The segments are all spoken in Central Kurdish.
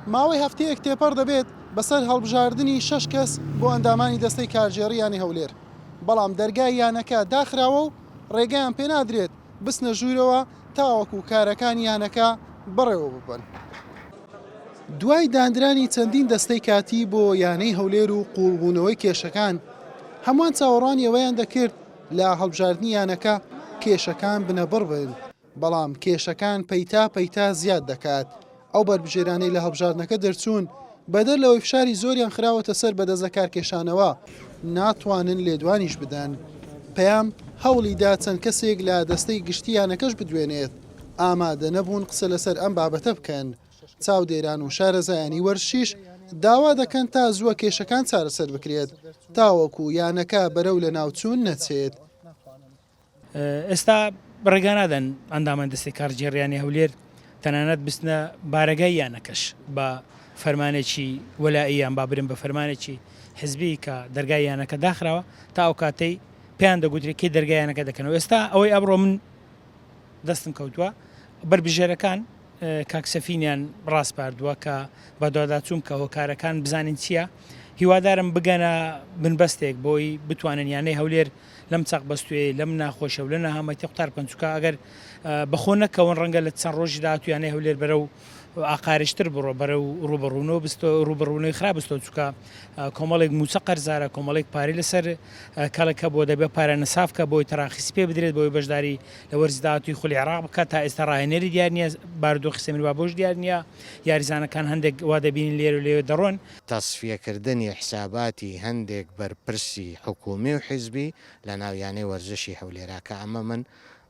ماوەی هەفتەیەک تێپەڕ دەبێت بەسەر هەڵبژاردنی شەش کەس بۆ ئەندامانی دەستەی کارگێڕی یانەی هەولێر، بەڵام دەرگای یانەکە داخراوە و رێگەیان پێنادرێت بچنە ژوورەوە تاوەکو کارەکانی یانەکە بەڕێوەببەن. دوای داندرانی چەندین دەستەی کاتی بۆ یانەی هەولێر و قووڵبوونەوەی کێشەکان، هەمووان چاوەڕوانی ئەوەیان دەکرد لە هەڵبژاردنی یانەکە کێشەکان بنەبڕ بن، بەڵام کێشەکان پەیتا پەیتا زیاد دەکات، ئەو بەربژێرانەی لە هەڵبژاردنەکە دەرچوون، بەدەر لەوەی فشاری زۆریان خراوەتە سەر بە دەست لە کارکێشانەوە، ناتوانن لێدوانیش بدەن. پەیام هەوڵی دا چەند کەسێک لە دەستەی گشتی یانەکەش بدوێنێت، ئامادە نەبوون قسە لەسەر ئەم بابەتە بکەن. چاودێران و شارەزایانی وەرزشیش داوا دەکەن تا زووە کێشەکان چارەسەر بکرێت، تاوەکو یانەکە بەرەو لەناوچوون نەچێت. ئێستا ڕێگانادەن ئەندامان دەستەی کارگێڕییانی هەولێر تەنانەت بچنە بارەگای یانەکەش بە فەرمانێکی وەلائیی یان با برێن بە فەرمانێکی حزبی کە دەرگای یانەکە داخراوە تا ئەو کاتەی پێیان دەگوترێت کەی دەرگای یانەکە دەکەنەوە ئێستا ئەوەی ئەمڕۆ من دەستم کەوتووە بەربژێرەکان کاک سەفینیان ڕاسپاردووە کە بەدواداچووم کە هۆکارەکان بزانین چییە هیوادارم بگەنە بنبەستێک بۆی بتوانن یانەی هەولێر لەم چەق بەستوێی لەم ناخۆشە و لە نەهامەتی قوتار پەنچوکە ئەگەر بە خۆ نەکەون ڕەنگە لە چەند ڕۆژی داهاتوو یانەی هەولێر بەرە و ئاقارشتر بڕۆ بەرە و ڕوبڕونەوە بستۆ ڕوبڕونەوەی خراپ بستۆ چکە کۆمەڵێک موچە قەرزارە کۆمەڵێک پارەی لەسەر کەڵک هەبووە دەبێت پارە نەسافکە بۆی تەراخیسی پێ بدرێت بۆی بەشداری لە وەرزی داهاتووی خولی عێراق بکات تا ئێستا ڕاهێنەری دیار نییە بارودۆخی سەمیربابۆش دیار نییە یاریزانەکان هەندێک وا دەبینین لێرە و لەوێ دەڕۆن تەسفیەکردنی حساباتی هەندێک بەرپرسی حکوومی و حیزبی لە ناو یانەی وەرزشی هەولێرا کە ئەمە من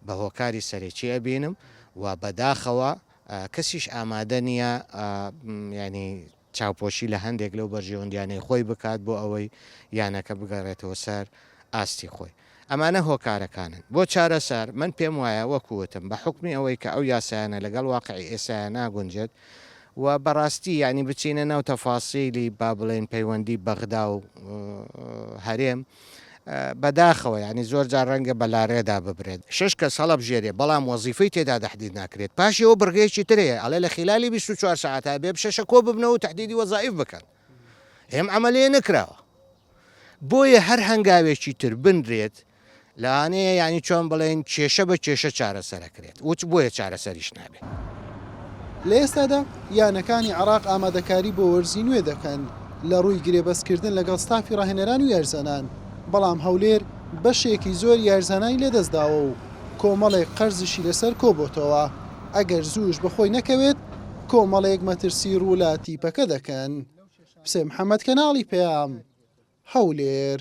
بە هۆکاری سەرەکی ئەبینم و بە داخەوە کەسیش ئامادە نییە یانی چاوپۆشی لە هەندێک لەو بەرژەوەندیانەی خۆی بکات بۆ ئەوەی یانەکە بگەڕێتەوە سەر ئاستی خۆی. ئەمانە هۆکارەکانن بۆ چارەسەر، من پێم وایە وەکو وتم بە حوکمی ئەوەی کە ئەو یاسایانە لەگەڵ واقعی ئێستایا ناگونجێت و بەڕاستی یانی بچینە ناو تەفاسیلی با بڵێین پەیوەندی بەغدا و هەرێم بە داخەوە یانی زۆر جار ڕەنگە بە لارێدا ببرێت. شەش کەس هەڵەبژێرێ بەڵام وەزیفەی تێدا تەحدید ناکرێت پاشی ئەوە بڕگەیەکی تر هەیە ئەڵێ لە خیلالی بیست و چوار سەعات هەبێ بشەشە کۆ ببنەوە و تەحدیدی وەزایف بکەن. ئێم ئەمەلێ نەکراوە بۆیە هەر هەنگاوێکی تر بنرێت لەوانەیە یانی چۆن بڵێن کێشە بە کێشە چارەسەرەکرێت وچ بۆیە چارەسەریش نابێت. لە ئێستادا یانەکانی عێراق ئامادەکاری بۆ وەرزی نوێ دەکەن لە رووی گرێبەستکردن لەگەڵ ستافی راهێنەران و یاریزانان، بەڵام هەولێر بەشێکی زۆری یاریزانانی لەدەستداوە و کۆمەڵێک قەرزیشی لەسەر کۆبۆتەوە. ئەگەر زووش بەخۆی نەکەوێت کۆمەڵێک مەترسی ڕوو لە تیپەکە دەکەن. حسێن محەمەد کەناڵی پەیام، هەولێر.